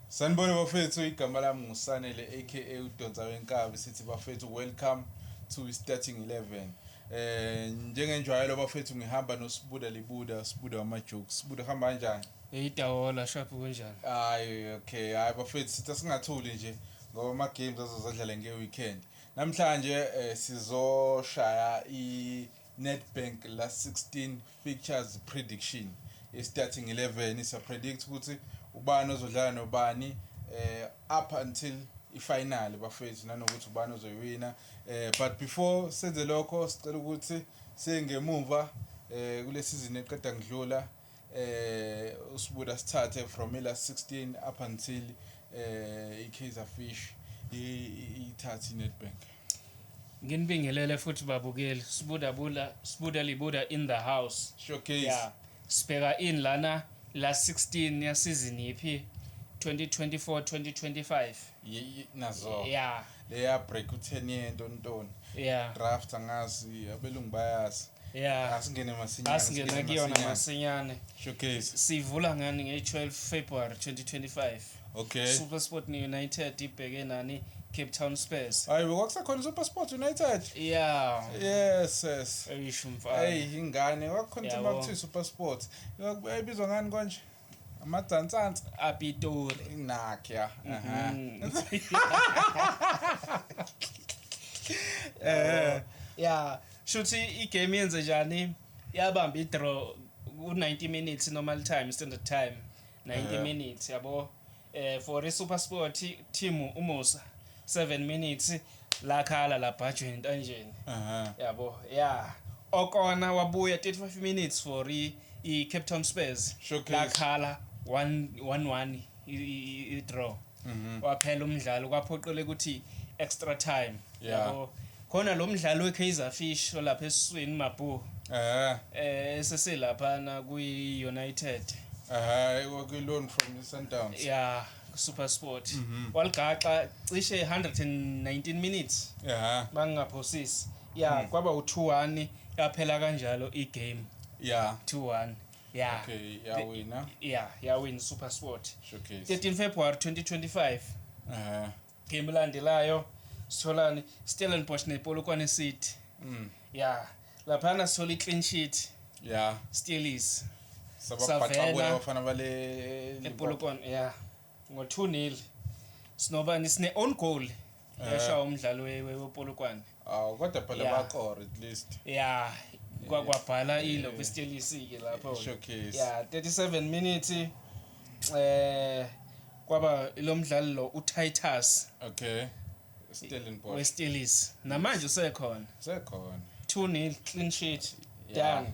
Sanibona bafethu igama lami nguSanele aka udonsa wenkabi sithi bafethu welcome to starting 11 eh njengenjwayelo bafethu ngihamba noSibuda Libuda Sibuda wamajokes Sibuda hamba kanjani Hey Tawola sharp kunjani Hayi okay hayi bafethu sitha singathuli nje ngoba ama games azozadlala nge weekend namhlanje eh, sizoshaya i Nedbank Last 16 Fixtures Prediction i-starting 11 isapredict ukuthi ubani ozodlala nobani eh up until ifinal bafethu nanokuthi ubani ozoyiwina eh but before senze lokho sicela ukuthi sengemuva eh kule season eqeda ngidlula eh usibuda sithathe from ila 16 up until eh iKaizer Fish ithathe iNedbank Nginibingelele futhi babukeli sibuda bula sibuda libuda in the house showcase yeah. sibheka in lana la 16 ya season yiphi 2024 2025 nazo yeah leya break u10 yento ntoni yeah draft angazi abelungu bayazi yeah asingene masinyane asingena kuyona masinyane showcase sivula ngani nge-12 february 2025 okay super sport united ibheke nani Cape Town Spurs hayi kwakusekhona Super Sport United yeah yes yes eyisho mfana hey ingane kwakukhona ukuthi makuthiwa Super Sport yayibizwa ngani konje amadzantsantsa apitori nakya mhm. eh ya shuthi igame yenze njani yabamba idraw ku-90 minutes normal time standard time 90 eh. minutes yabo Eh for iSuper Sport team uMusa 7 minutes lakhala labhajwa entanjeni. Aha. Yabo. Yeah. Okona wabuya 35 minutes for i, i Cape Town Spurs. Showcase. Lakhala 1 1 i draw. Mhm. Waphela umdlalo kwaphoqele ukuthi extra time. Yeah. Yabo. Khona lo mdlali weKaizer Fish olapha esiswini mabhoo Ehhe. eh eseselaphana kwiUnited. Ehhe, kwakwi-loan from iSundowns. Yeah, kuSuperSport. Waligaxa cishe 119 minutes Ehhe. bangingaphosisi. Yeah, kwaba u2-1 yaphela kanjalo igame Yeah. 2-1. Yeah. Okay, yawina. Yeah, yawin SuperSport. Showcase. 13 February 2025. Ehhe. Game elandelayo sitholani Stellenbosch nePolokwane City. Mm. Yeah. Laphana sithola i-clean sheet. Yeah. Steelies. Sababhaxabula abafana bale lePolokwane. Yeah. Ngo 2-0. Sinobani sine own goal. Yashawa eh. umdlalo wePolokwane. awu kodwa phela Yeah. bakora at least ya kwa- kwabhala ilo kwistelisi-ke lapho Showcase. ya 37 minutes eh kwaba lo mdlali lo utitus okay stellenbosch westelisi namanje usekhona sekhona 2 nil clean sheet Yeah. done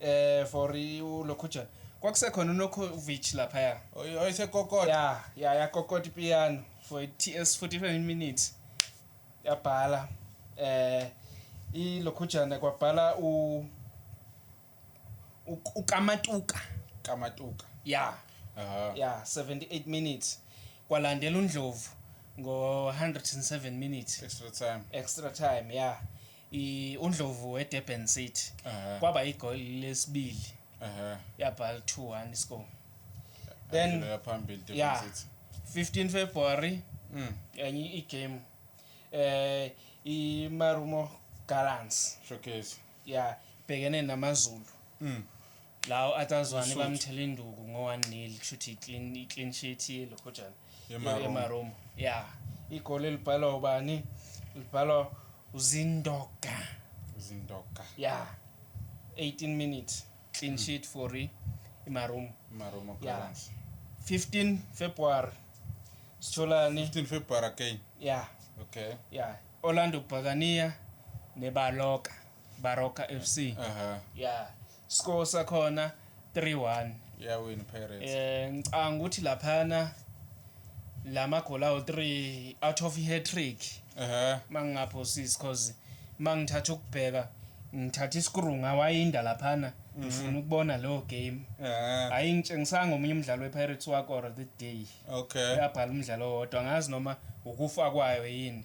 eh for uLokhujan kwakusekhona uNokovic laphaya oyise kokota yeah yeah yakokota ipiano for TS 45 minutes yabhala eh iLokhujan kwabhala u uKamatuka Kamatuka yeah aha yeah 78 minutes kwalandela uNdlovu ngo 107 minutes extra time extra time yeah UNdlovu weDurban City kwaba igoli lesibili yabhala 2-1 iscore. Then yeah 15 February mm. enye igame eh iMarumo Gallants showcase yeah bhekene namaZulu mm. Lawo atazwane bamthela induku ngo 1 nil kushuthi iclean iclean sheet yelokhojana emaroma. Yeah. Igoli elibhalwa ubani? Libhalwa uZindoka. Uzindoka. Yeah. 18 minutes clean mm. sheet for imaroma. Imaroma Gallants. Yeah. 15 February sitholani 15 February again yeah okay yeah Orlando Bhakaniya neBaloka Baroka FC uh -huh. yeah Score sakhona 3-1. Iyawina iPirates. Eh ngicanga ukuthi laphana lama goal awu 3 out of hat trick. Ehhe. Mangingaphosisi because mangithatha ukubheka ngithatha isikru ngawayinda laphana Mhm. ngifuna ukubona lo game. Ehhe. Hayi ngitshengisanga omunye umdlalo wePirates wakora the day. Okay. Yabhala umdlalo owodwa ngazi noma ukufa kwayo yini.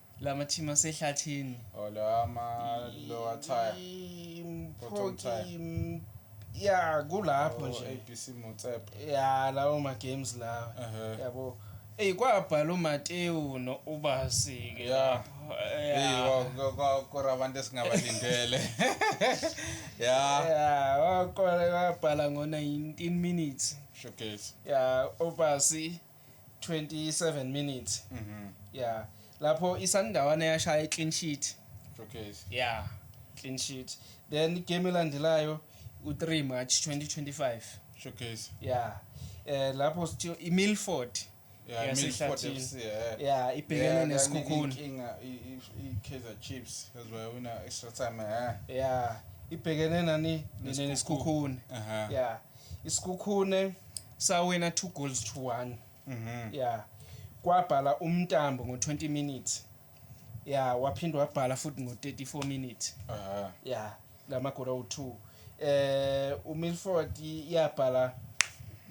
Lama team asehlathini. Oh lama lower tire. Impoti ya kulapho oh, nje. ABC Motsep. Ya lawo ma games lawa. Yabo. Ey kwabhala uMateo no Ubasi ke. Yeah. Hey kwakora abantu esingabalindele. Yeah. Yeah, wakwabhala ngo 19 minutes. Showcase. Yeah, Ubasi. 27 minutes mhm yeah lapho isandawana yashaya iclean sheet okay yeah clean sheet then igame elandelayo u3 March 2025 showcase yeah eh lapho sithiyo iMilford yeah Milford FC yeah yeah ibhekene nesikhukhuni inkinga iKaizer Chiefs as well wina extra time yeah yeah ibhekene nani nesikhukhuni yeah Isikhukhune sawina two goals to one. Mhm. Yeah. Kwabhala umntambo ngo 20 minutes. Yeah, waphinde wabhala futhi ngo 34 minutes. Aha. Yeah, ngamagora u2. Eh uMilford iyabhala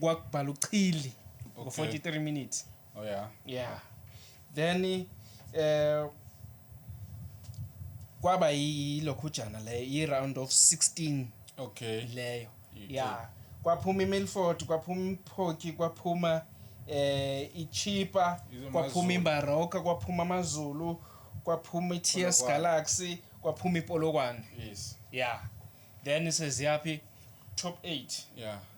kwakubhala uChili ngo Okay. 43 minutes. Oh yeah. Yeah. Then eh kwaba yilokhujana le i round of 16 okay leyo yeah kwaphuma iMilford kwaphuma iMphoki kwaphuma eh iChipa kwaphuma iMbaroka kwaphuma amaZulu kwaphuma iTS Galaxy kwaphuma iPolokwane yes yeah then seziyaphi top 8 yeah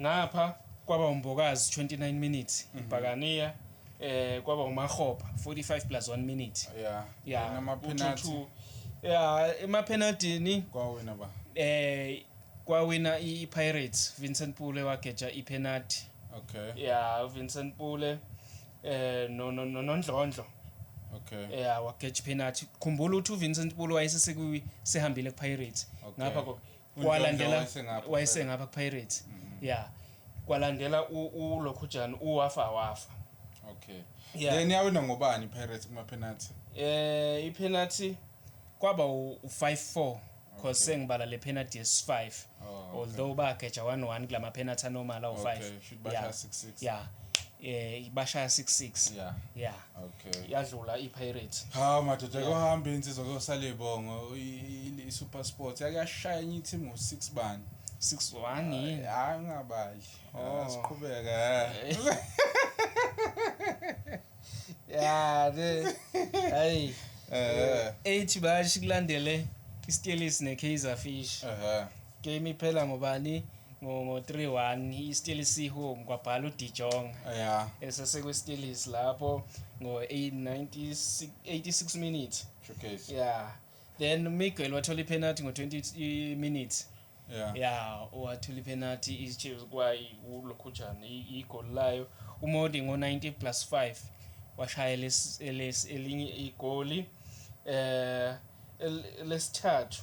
Ngapha kwaba uMbokazi 29 minutes mhm. ibhakaniya eh kwaba uMahopa 45 plus 1 minute yeah yeah nama penalty yeah ema penalty kwawina ba eh kwawina iPirates Vincent Pule wageja ipenalty okay yeah Vincent Pule eh no no no nondlondlo okay yeah wageja ipenalty khumbula ukuthi uVincent Pule wayesesekuyi sehambile kuPirates ngapha kwalandela wayesengapha Pirates mhm. yeah kwalandela uLokhujani uwafa wafa okay yeah. then yawina ngobani Pirates kuma penalty eh i penalty kwaba u5-4 because sengibala le penalty yes5 oh, although bageja 1-1 kulama penalty anormal awu5 yeah yeah eh bashaya 66 yeah yeah okay yadlula iPirates ha madoda kohamba insizwa kosale bongo iSuper Sports yake yashaya enye team ngo 6 bani 61 yini hayi ngabali oh. ah, siqhubeka ya de hey eh ethi bashi kulandele iStellies neKaizer Fish ehe Game iphela ngobani? Ngo ngo 3-1 iSteelers ihome kwabhala uDijong. Yeah. Esesekwe Steelers lapho ngo 86 86 minutes. Showcase. Yeah. Then Miguel wathola ipenalty ngo 20 minutes. Yeah. Yeah, wathola ipenalty iChiefs kwayi uLokhujana igol layo. UModi ngo 90 plus 5 washaya elinye igoli eh lesithathu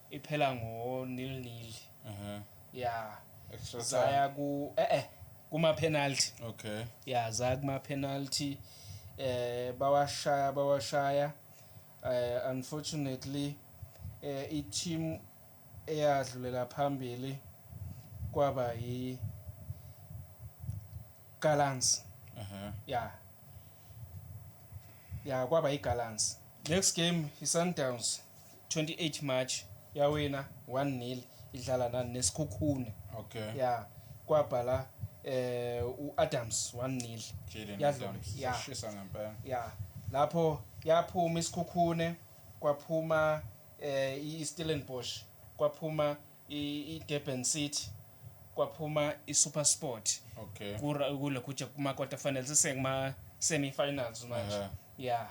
iphela ngo nil nil Aha. ya Extra time. zaya ku eh eh kuma penalty Okay. ya zaya kuma penalty eh bawashaya bawashaya eh unfortunately eh i team eyadlulela phambili kwaba yi Gallants Aha. ya ya kwaba iGallants next game iSundowns 28 March yawina 1-0 idlala nani nesikhukhune. Okay. Yeah. Kwabhala eh uAdams 1-0. Jaden Adams. Yeah. Shisa ngempela. Yeah. Lapho yaphuma isikhukhune kwaphuma eh iStellenbosch kwaphuma iDurban City kwaphuma iSuperSport okay kule group kuma quarter finals sisengma semi finals manje uh -huh. yeah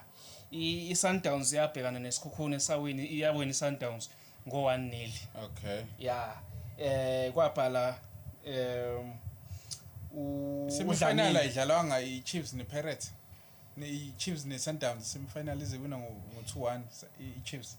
iSundowns yabhekana nesikhukhuni esawini iyawina iSundowns ngo 1 nil okay yeah eh kwabhala um semifinal ayidlalwanga iChiefs nePirates iChiefs neSundowns semifinal iziwina ngo 2-1 iChiefs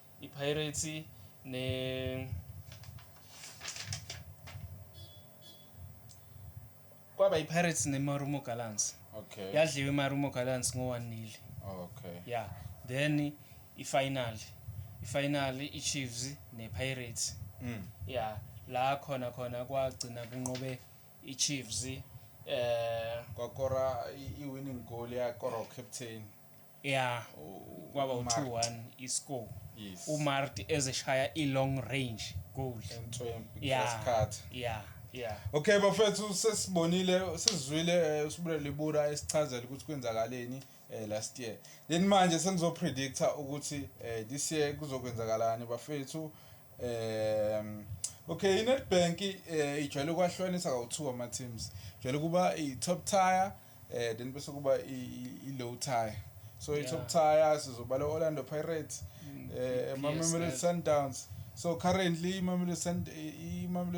IPirates ne kwaba iPirates neMarumo Gallants. Okay. Yadliwa iMarumo Gallants ngo 1 nil. Okay. Yeah. Then ifinal. Ifinal iChiefs nePirates. Mm. Yeah. La khona khona kwagcina kunqobe iChiefs eh kwakora iwinning goal yakora ucaptain ya kwaba u-2-1 iscore Yes. umarti ezeshaya i-long range goal Entswempi, ya cross cut. ya ya Okay bafethu sesibonile sizwile eh, uSibule Libura esichazela ukuthi kwenzakaleni eh, last year. Then manje sengizo predictor ukuthi eh, this year kuzokwenzakalani bafethu. Ehm okay iNetbank eh, ijwayele ukwahlukanisa kawu2 ama teams. Ijwayele kuba i top tier eh then bese kuba i-low tire so yeah. i-top tire sizobala orlando pirates mm, eh mamelodi sundowns so currently imamelodi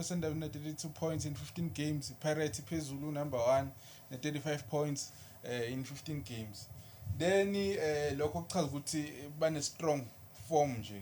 sundowns ine-32 points in 15 games ipirates iphezulu number one ne-35 points eh, in 15 games then eh, lokho kuchaza ukuthi bane-strong form nje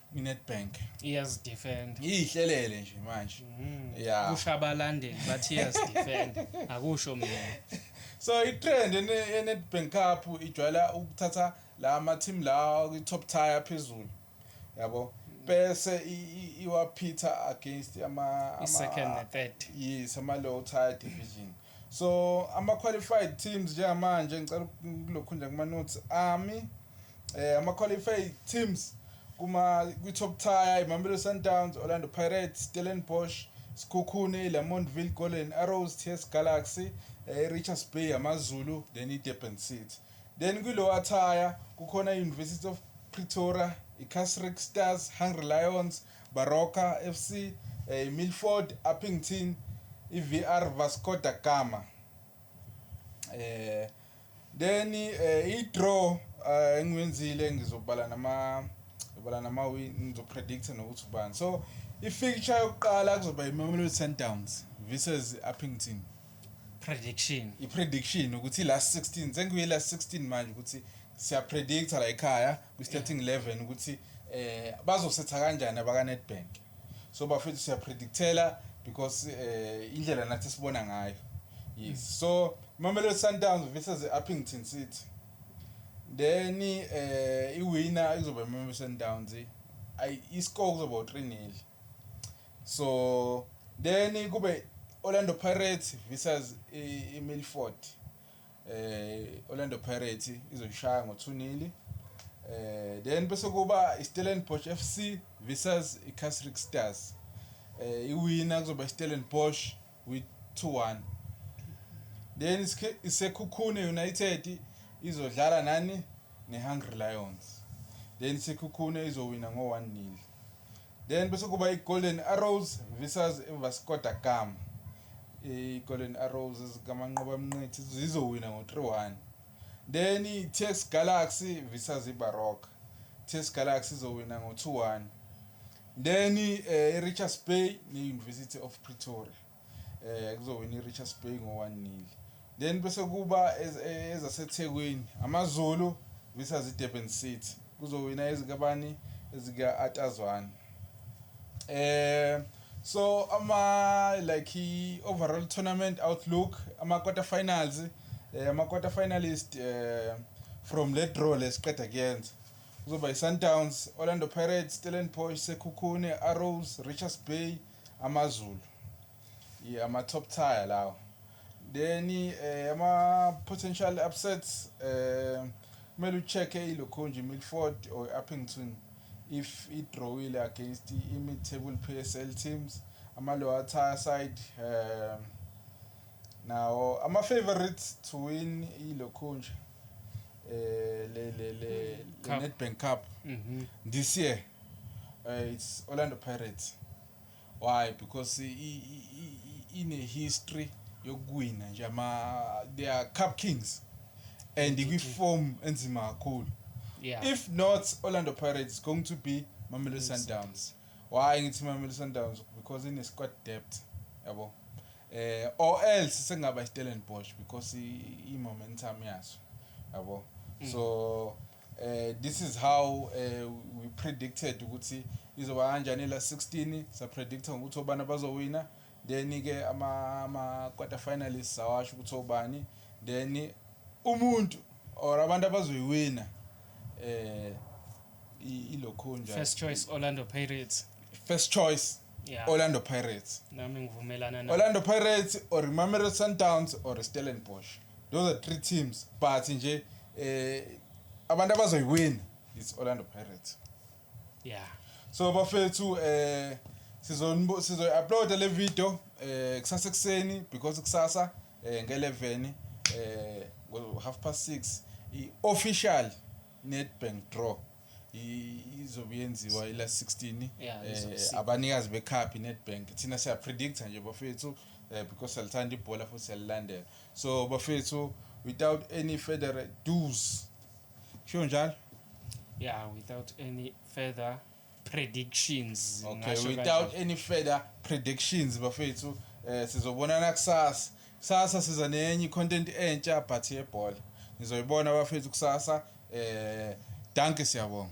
inedbank iyazidefend iyihlelele nje manje mm. yeah. kusho abalandeli bathi iyazidefend akusho mina so itrend enedbank cup ijwayela ukuthatha la ama-team lawa kwi-top tire phezulu yabo bese iwaphitha against ama-second ne-third yes ama-low tire division so ama-qualified teams njengamanje ngicela kulokhu nje kuma-notes ami Eh ama qualified teams kuma kwi top tier iMamelodi Sundowns, Orlando Pirates, Stellenbosch, Sekhukhune, Lamontville, Golden Arrows, TS Galaxy, eh, Richards Bay, AmaZulu then iDurban City. Then kwi lower tier kukhona iUniversity of Pretoria, iCasric Stars, Hungry Lions, Baroka FC, eh, iMilford, Upington, iVR Vasco da Gama. Eh Then eh, i-draw eh, engiwenzile ngizobala nama ngizobala nama ngizopredict nokuthi ubani so i-fixture yokuqala kuzoba imamelodi sundowns versus i-uppington prediction i-prediction ukuthi i-last 16 sengiyi-last 16 manje ukuthi siyapredicta la ekhaya kwi-starting 11 ukuthi eh bazosetha kanjani abaka-nedbank so bafethu siya predictela because eh indlela nathi sibona ngayo yes so Mamelodi Sundowns versus Uppington City then eh iwina izoba Mamelodi Sundowns ay iscore kuzoba 3-0 so then kube Orlando Pirates versus iMilford Orlando Pirates izoyishaya ngo 2 nili eh then bese kuba iStellenbosch FC versus iCasric Stars eh iwina kuzoba iStellenbosch with 2-1 then iSekhukhune United izodlala nani neHungry Lions then iSekhukhune izowina ngo 1-0 Then bese kuba iGolden Arrows versus iVasco da Gama. IGolden Arrows ezikaManqoba Mnqithi zizowina ngo-3-1. Then iTS Galaxy versus iBaroka. TS Galaxy izowina ngo-2-1. Then eh, iRichards Bay ne-University of Pretoria. eh kuzowina iRichards Bay ngo-1 nil then bese kuba eh, ezaseThekwini AmaZulu versus iDurban City kuzowina ezikabani ezika-Atazwane eh so ama like i-overall tournament outlook ama-quarter finals eh, ama-quarter finalist eh, from le draw lesiqeda kuyenza kuzoba yi-sundowns orlando pirates stellenbosch sekhukhune arrows richards bay AmaZulu ye ama top tier lawo then eh, ama potential upsets eh, kumele ucheck-e ilokhunje i-milford or i-uppington if idrawile against i-mid table p s l teams ama-lower tier side um nawo ama-favorites to win ilokhunje eh, le le le Cup. Nedbank Cup Mhm. this year uh, it's Orlando Pirates why because i- i- i- i- ine history yokuwina nje ama they are cup kings and kwi form enzima kakhulu Yeah. if not Orlando Pirates it's going to be Mamelodi Sundowns Why ngithi Mamelodi Sundowns because ine squad depth yabo. Eh or else sengaba iStellenbosch because i momentum yaso yabo. Mm. So eh this is how eh we predicted ukuthi izoba kanjani la 16 sa predictor ukuthi obana bazowina Then ke ama ama quarter finalists awasho ukuthi obani then umuntu or abantu abazoyiwina eh ilokhunja first choice Orlando Pirates first choice yeah. Orlando Pirates nami ngivumelana na Orlando Pirates or Mamelodi Sundowns or Stellenbosch those are three teams but nje eh abantu abazoyiwina it's Orlando Pirates yeah so bafethu eh sizonbo sizoyi-uploada le video eh kusasa ekuseni because kusasa eh nge-11 eh ngo-half past 6 i-official netbank draw izobe yenziwa ila 16 yeah, eh, abanikazi bekhaphi netbank thina siyapredicta nje bafethu eh, because siyalithanda ibhola futhi siyalilandela so bafethu without any federal dues Sho njalo. Yeah, without any further predictions. Okay, without any further predictions bafethu eh sizobonana kusasa. Kusasa siza nenye content entsha but yebhola. Nizoyibona bafethu kusasa eh danke siyabonga.